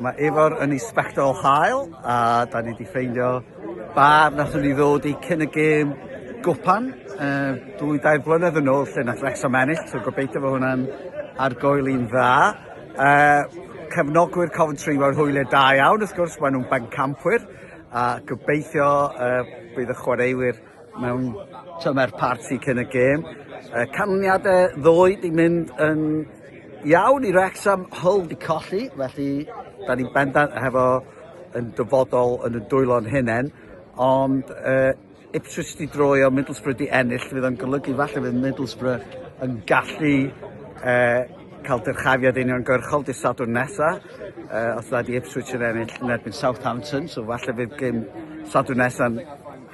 Mae Ifor yn Inspector Hael a da ni wedi ffeindio bar nathon ni ddod i cyn y gêm gwpan uh, dwy dair blynedd yn ôl lle nath Wrexham ennill, so gobeithio fod hwnna'n argoel i'n dda. Uh, cefnogwyr Coventry mewn hwyliau da iawn wrth gwrs, maen nhw'n bencampwyr a gobeithio uh, bydd y chwaraewyr mewn tymer parti cyn y gêm. Y canlyniadau ddoe di mynd yn iawn i Wrexham, Hull di colli, felly da ni'n bendant hefo yn dyfodol yn y dwylo'n hunain, ond uh, Ipswich di droi o Middlesbrough di ennill, fydd o'n golygu falle fydd Middlesbrough yn gallu uh, cael dyrchafiad union gyrchol di sadwrn nesa, uh, os da di Ipswich yn ennill yn erbyn Southampton, so falle fydd gym sadwrn nesa'n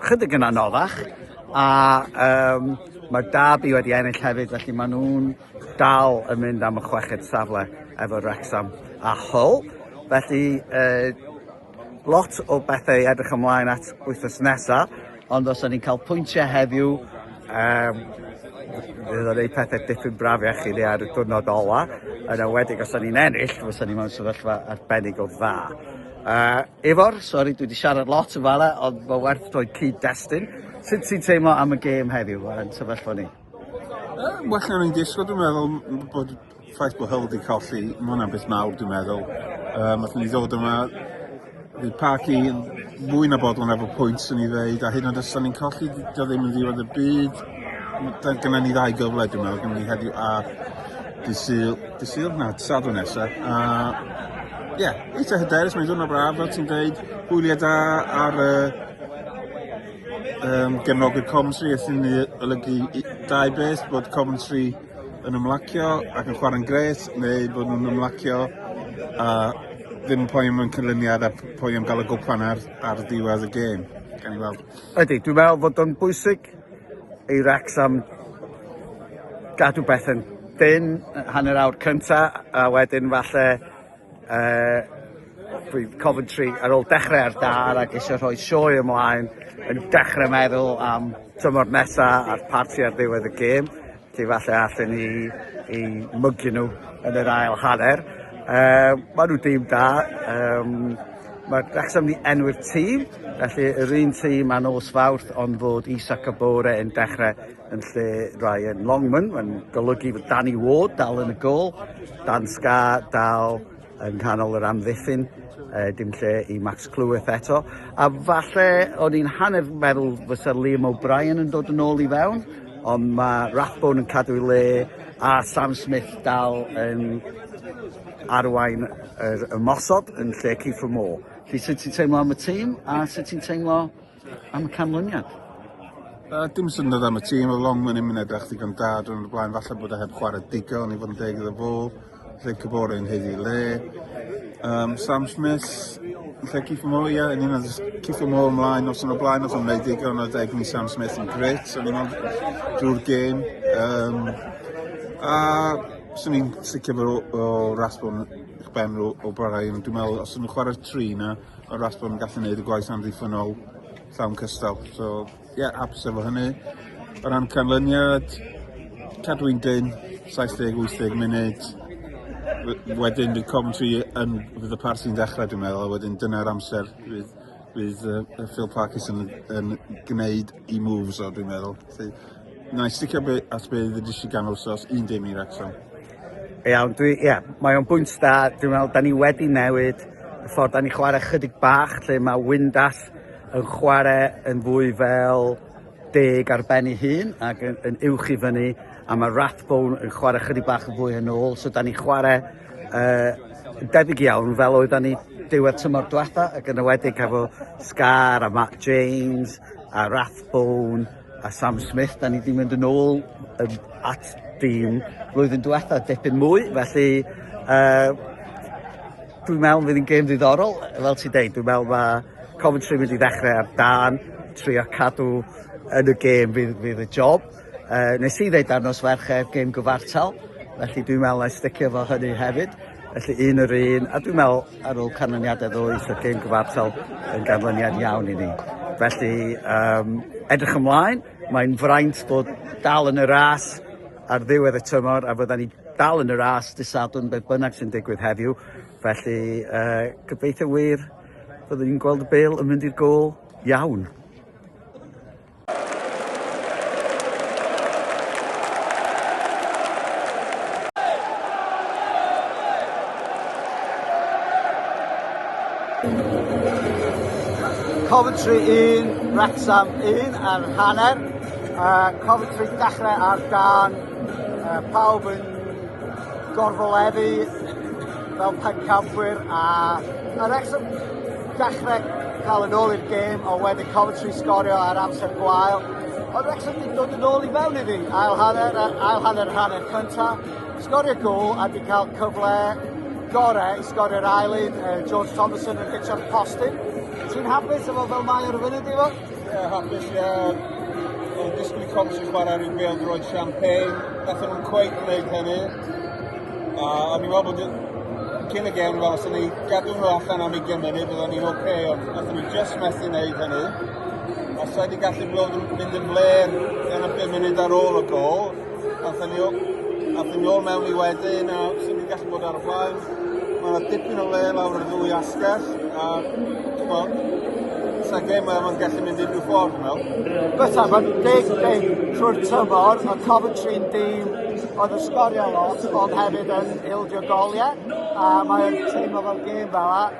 chydig yn anoddach a yym mae Derby wedi ennill hefyd felly maen nhw'n dal yn mynd am y chweched safle efo Wrecsam a Hull felly yy lot o bethau i edrych ymlaen at wythnos nesaf ond os o'n i'n cael pwyntiau heddiw um, fydd o'n ei pethau dipyn brafiach i ni ar y diwrnod ola yn awedig os o'n i'n ennill fysa ni mewn sefyllfa arbennig o dda. Uh, Ifor, sori dwi wedi siarad lot yn fara, ond mae werth rhoi cyd-destun. Sut ti'n teimlo am y gêm heddiw yn sefyllfa ni? Uh, well na ni'n disgwyl, dwi'n meddwl bod ffaith bod Hull wedi colli, mae hwnna'n beth mawr dwi'n meddwl. Um, Oedden ni ddod yma, bydd parc i fwy na bodlon efo pwynt sy'n ei ddeud, a hyn ond os ni'n colli, dio ddim yn ddiwedd y byd. Mae gennym ni ddau gyfle dwi'n meddwl, gennym ni heddiw a dydd Sul, dydd Sul? Na, dydd Sadwrn nesaf. A ie, yeah, eitha hyderus, mae'n dwrnod braf, fel ti'n dweud, hwyliau da ar y um, gefnogwyr Coventry, a sy'n olygu dau beth, bod Coventry yn ymlacio ac yn chwarae'n gret, neu bod nhw'n ymlacio a ddim yn poen mewn cynlyniad a poen am gael y gwpan ar, ar ddiwedd y gêm. Gan i weld. Ydy, dwi'n meddwl bod o'n bwysig i Wrecsam gadw bethau'n dyn hanner awr cynta a wedyn falle uh, bydd Coventry ar ôl dechrau ar dar ac eisiau rhoi sioe ymlaen yn dechrau meddwl am tymor nesaf a'r parti ar ddiwedd y gêm. Efallai allen ni eu mygu nhw yn yr ail hanner. Um, mae nhw dim da. Um, mae Wrexham ni enw'r tîm, felly yr un tîm a nos fawrth ond fod Isa Kabore yn dechrau yn lle Ryan Longman. Mae'n golygu fod Danny Ward dal yn y gol, Dan Scar dal yng nghanol yr amddiffyn, uh, dim lle i Max Cleworth eto. A falle o'n i'n hanner meddwl fysa Liam O'Brien yn dod yn ôl i fewn, ond mae Rathbone yn cadw'i le a Sam Smith dal yn arwain yr ymosod yn lle Kiefer Moore. Felly sut ti'n teimlo am y tîm a sut ti'n teimlo Am y canlyniad? Uh, dim syndod am y tîm, oedd long yn mynd edrych ddigon da drwy'n y blaen, falle bod e heb chwarae digon i fod yn deg iddo fo, lle Cybore yn heiddi le. Um, Sam Smith, lle Cifo Mo, ie, yn un oedd Cifo Mo ymlaen os yn y blaen, oedd yn gwneud digon oedd deg ni Sam Smith yn gret, o'n i'n meddwl, drwy'r gêm. Um, a swn i'n sicr bod o, o rasbon eich ben o, o barhau, dwi'n meddwl, os ydyn nhw'n chwarae'r tri na, o ras bod yn gallu neud y gwaith amddiffynnol llawn cystal so ie hapus efo hynny. O ran canlyniad cadw i'n dyn 70-80 munud wedyn bydd Coventry yn fydd y par sy'n ddechrau dwi'n meddwl a wedyn dyna'r amser bydd bydd uh, Phil Parkes yn, yn gwneud i moves o dwi'n meddwl. Felly, na i sticio be, at be ddydys i gan wrsos 11 i Wrexham. Iawn, dwi, ie, mae o'n bwynt da. Dwi'n meddwl, da ni wedi newid y ffordd da ni'n chwarae chydig bach, lle mae Windass yn chwarae yn fwy fel deg ar ben ei hun ac yn, yn uwch i fyny, a mae Rathbone yn chwarae chydig bach yn fwy yn ôl, so da ni'n chwarae uh, debyg iawn fel oedden ni diwedd tymor diwetha, ac yn ywedig efo Scar a Mark James a Rathbone, A Sam Smith, da ni wedi mynd yn ôl yn at dîm flwyddyn diwetha dipyn mwy, felly uh, dwi'n meddwl fydd yn gêm ddiddorol, fel ti'n deud, dwi'n meddwl mae Coventry wedi ddechrau ar dan, trio cadw yn y gêm fydd, fydd y job. Uh, nes i ddeud ar nos fercher gêm gyfartal, felly dwi'n meddwl na sticio fo hynny hefyd, felly un yr un, a dwi'n meddwl Ar ôl canlyniadau ddois y gêm gyfartal yn ganlyniad iawn i ni. Felly yym edrych ymlaen, mae'n fraint bod dal yn y ras ar ddiwedd y tymor a fyddan ni dal yn y ras dydd Sadwrn beth bynnag sy'n digwydd heddiw. Felly yy gobeithio wir fyddwn ni'n gweld y bêl yn mynd i'r gôl iawn. Coventry 1, Wrexham 1 ar hanner. Uh, Coventry dechrau ar gan uh, pawb yn gorfoleddu fel pencampwyr a ma' Wrecsam dechre dal yn ôl i'r gêm a wedyn Coventry sgorio ar amser gwael ond Wrecsam 'di dod yn ôl i mewn iddi ail hanner a ail hanner yr hanner cynta sgorio gôl a 'di ca'l cyfle gore i sgorio'r ail un yy George Thomason yn hitio'r postyn. Ti'n hapus efo fel mae o ar y funud Ifor? Ie, hapus iawn. O'n i'n disgwyl i Coms i chwarae rhyw bêl droed champagne. Gathen nhw'n cweith gwneud hynny. A o'n i'n meddwl bod cyn y gem fel os o'n i gadw nhw allan am 20 munud byddwn ni'n oce, okay, ond gathen nhw just methu wneud hynny. A sa'i wedi gallu bod yn mynd yn fler yn y 5 munud ar ôl y gol. Aethon ni, aethon ni ôl mewn i wedyn a sy'n ni'n gallu bod ar y blaen. Mae yna dipyn o le lawr y ddwy asgell a bod, sa gem yma'n gallu mynd unrhyw ffordd yn mewn. Byta, mae'n big thing trwy'r tymor, a Coventry'n dîm oedd yn sgorio lot, ond hefyd yn ildio goliau, a mae'n teimlo fel gem fel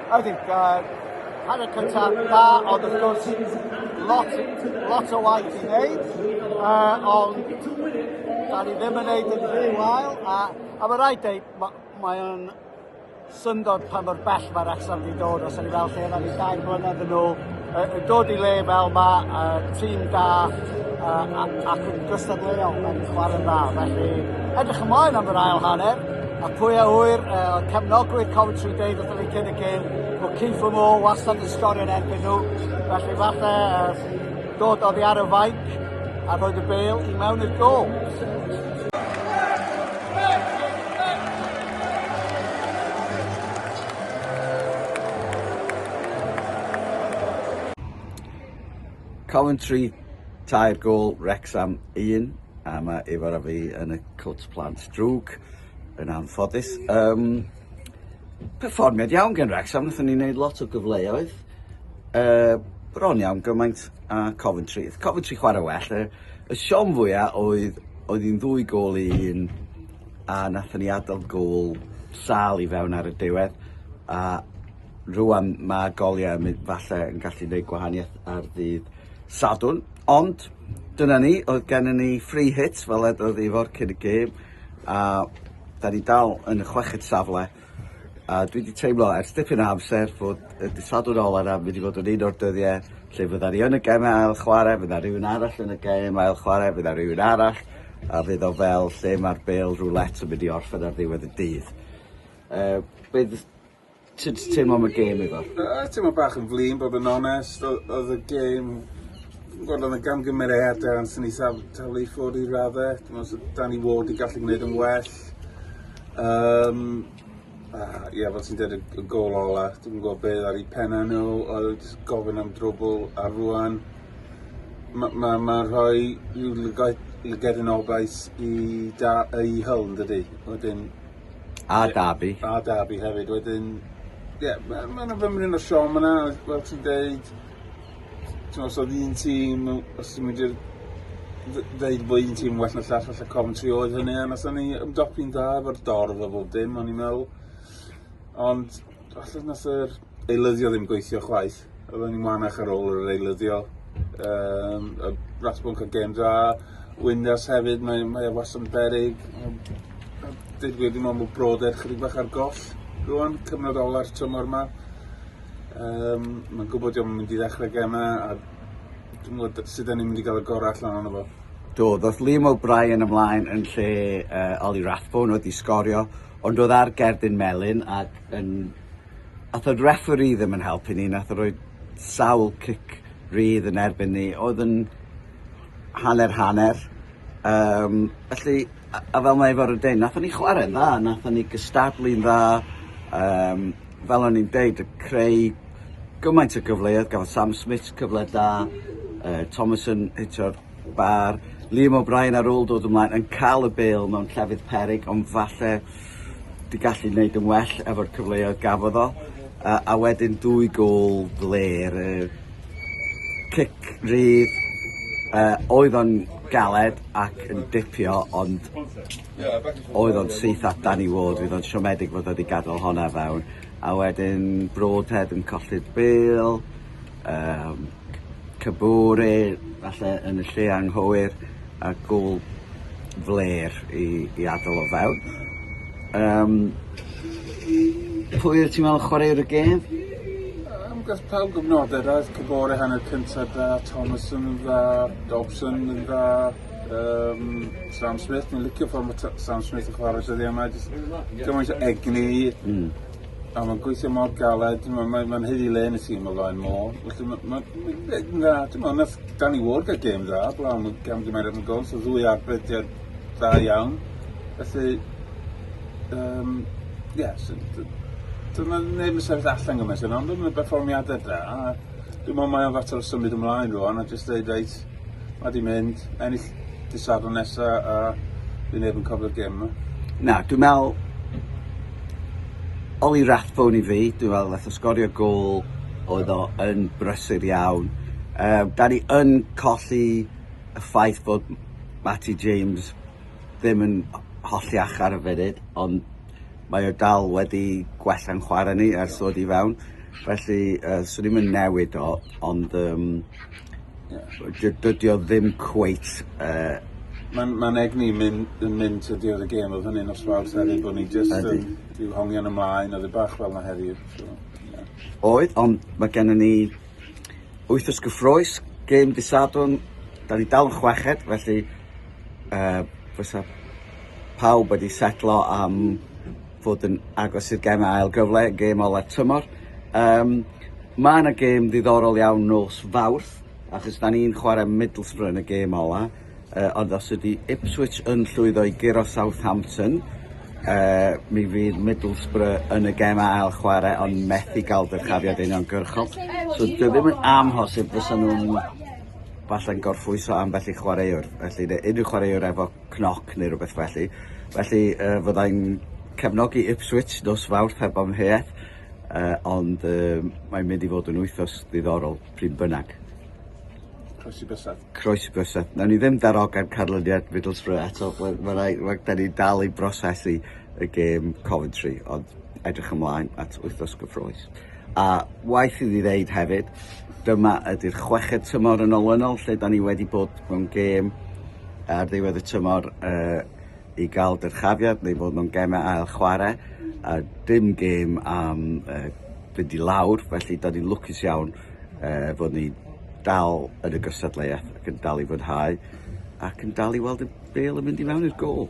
I think uh, hanner cynta da, ond wrth gwrs, lot, lot o waith i wneud, uh, ond da ni ddim yn wneud yn rhy wael, a, a mae rhaid dweud, mae, mae o'n syndod pa mor bell mae'r Wrexham wedi dod, os yna fel lle yna ni dau mlynedd yn ôl, Yn dod i le fel ma, tîm da ac yn gystadleuol yn chwarae'n dda. Felly, edrych ymlaen am yr ail hanner. A pwy a ŵyr, oedd cefnogwyr Coventry deud wrthyn ni cyn y gêm bod Keith for More wastad yn sgorio yn erbyn nhw. Felly falle dod oddi ar y faic a roed y bel i mewn i'r gol. Coventry tair gôl, Wrecsam un, a mae Ifor a fi yn y cwt plant drwg, yn anffodus. Um, perfformiad iawn gen Wrecsam, wnaethon ni wneud lot o gyfleoedd, uh, bron iawn gymaint a Coventry. Oedd Coventry chwarae well, y, y siom fwyaf oedd, oedd hi'n ddwy gôl i un, a nathon ni adal gôl sâl i fewn ar y diwedd a rŵan ma' goliau yn mynd falle yn gallu neud gwahanieth ar ddydd Sadwrn ond dyna ni oedd gennon ni free hit fel edodd Ifor cyn y gêm a 'dan ni dal yn y chweched safle. A dwi 'di teimlo ers dipyn o amser bod y dydd Sadwrn ola 'na mynd i fod yn un o'r dyddie lle fydda ni yn y geme ail chware, fydda rhywun arall yn y gem ail chware, fydda rhywun arall, a fydd o fel lle mae'r bêl roulette yn mynd i orffen ar ddiwedd y dydd. Uh, be ti wedi teimlo am y gêm efo? Uh, teimlo bach yn flin, bod yn onest, oedd y gêm Wel, oedd y gam gymeriadau yn sy'n eithaf taflu i ffwrdd i raddau. Dwi'n meddwl, da ni fod i gallu gwneud yn well. arall. Um, uh, yeah, fel ti'n dweud y gol ola, dwi'n gwybod beth ar ei penna nhw, oedd jyst gofyn am drwbl a rwan. Mae ma, ma rhoi rhyw lygedyn obaith i, da, i hyl yn dydy. Wedyn, a Darby. A Darby hefyd. Wedyn, ie, yeah, mae ma yna fymryn o siom yna, fel ti'n dweud, t'mo' os odd un tîm mewn os ti'n mynd i'r dd- ddeud bo' un tîm well na llall falle Coventry oedd hynny a nathon ni ymdopi'n dda efo'r dorf a bob dim o'n i'n meddwl. Ond falle nath yr eilyddio ddim gweithio chwaith. Oedden ni'n wanach ar ôl yr eilyddio. Yym a Rathbone ca'l gêm dda. Windass hefyd mae mae e wastad yn beryg. Yym a deud y gwir dwi me'wl ma' Bro Deg chydig bach ar goll rŵan. Cyfnod ola'r tymor 'ma. Um, mae'n gwybod diolch yn mynd i ddechrau gemau a dwi'n gwybod sut ni'n mynd i gael y gorau allan o'n efo. Do, ddoth Liam O'Brien ymlaen yn lle uh, Ollie Rathbone oedd i sgorio, ond oedd ar gerdyn melyn ac yn... Ath o'r referi ddim yn helpu ni, nath o roi sawl cic rydd yn erbyn ni, oedd yn hanner-hanner. Yym felly a a fel mae Ifory 'di deud nathon ni chware'n dda nathon ni gystadlu'n dda yym fel o'n i'n deud yy creu gymaint o gyfleodd gafodd Sam Smits cyfle da yy Thomas yn hitio'r bar Liam O'Brien ar ôl dod ymlaen yn ca'l y bêl mewn llefydd peryg ond falle 'di gallu neud yn well efo'r cyfleodd gafodd o yy a wedyn dwy gôl flêr yy cic rydd yy oedd o'n galed ac yn dipio ond oedd o'n syth at Danny Ward fydd o'n siomedig fod o wedi gadael honna fewn a wedyn Broadhead yn colli'r bêl yym Kabore falle yn y lle anghywir a gul flêr i i adal o fewn. Yym. Pwy wyt ti'n meddwl chwaraewr y gêm? Yym gath pawb gyfnode da ath Kabore hanner cynta da, Thomason yn dda, Dobson yn dda, yym Sam Smith fi'n licio ffor ma' T- Sam Smith yn chware dyddie 'ma jyst gymaint o egni. Hmm. A mae'n gweithio mor galed, mae'n mae, mae hyd i le yn y tîm o flaen môl. Felly mae'n ma, ma, ma, dda, ti'n meddwl, nath Danny Ward gael gêm dda, blaw am y gam gymeriad yn gol, so ddwy arbediad dda iawn. Felly, um, yes, dyna neb yn sefyll allan gymaint yna, ond mae'n berfformiadau da. Dwi'n meddwl mae'n fater o symud ymlaen rwan a jyst dweud, reit, Mae di mynd, ennill dy sadwn nesa a fi neb yn cofio'r gem yma. Na, dwi'n meddwl Oli Rathbone i fi, dwi'n meddwl nath o sgorio gol oedd o yn brysur iawn. Uh, da ni yn colli y ffaith bod Matty James ddim yn hollti achar y funud, ond mae o dal wedi gwella'n chwarae ni ers ddod i fewn. Felly, uh, swn i'n mynd newid o, ond um, Ie. Dydy o ddim cweit yy... Ma'n ma'n egni myn' yn mynd to the other game odd hynny'n nos Fawrth hefyd bo' ni jyst yn... Ydi. ...ryw hongian ymlaen odd e bach fel 'na heddi so ie. Oedd on' ma' gennon ni wythnos gyffrous, gêm dy' Sadwrn, 'dan ni dal yn chweched felly yy fysa pawb wedi setlo am fod yn agos i'r gem ail gyfle gêm ola'r tymor. Um, mae yna gêm ddiddorol iawn nos Fawrth, achos da ni'n chwarae Middlesbrough yn y gêm ola, uh, ond os ydy Ipswich yn llwyddo i guro Southampton, uh, mi fydd Middlesbrough yn y gem ail chwarae ond methu gael dyrchafiad union gyrchol. So dwi ddim yn amhosib fysa nhw'n falle'n gorffwyso ambell i chwaraewr. Felly unrhyw chwaraewr efo cnoc neu rywbeth felly. Felly yy fyddai'n cefnogi Ipswich nos Fawrth heb amheuaeth yy ond yy mae'n mynd i fod yn wythnos ddiddorol pryd bynnag. Croesi bysedd. Croesi bysedd. Nawn ni ddim darogan canlyniad Middlesbrough eto we- ma' rai- we- 'dan ni'n dal i brosesu y gêm Coventry ond edrych ymlaen at wythnos gyffrous. A waeth iddi ddeud hefyd, dyma ydy'r chweched tymor yn olynol lle da ni wedi bod mewn gêm ar ddiwedd y tymor uh, i gael dyrchafiad neu fod mewn gemau ail chwarae a dim gêm am uh, fynd i lawr, felly da ni'n lwcus iawn uh, fod ni dal yn y gystadleuaeth ac yn dal i fwynhau ac yn dal i weld y bel yn mynd i mewn i'r gol.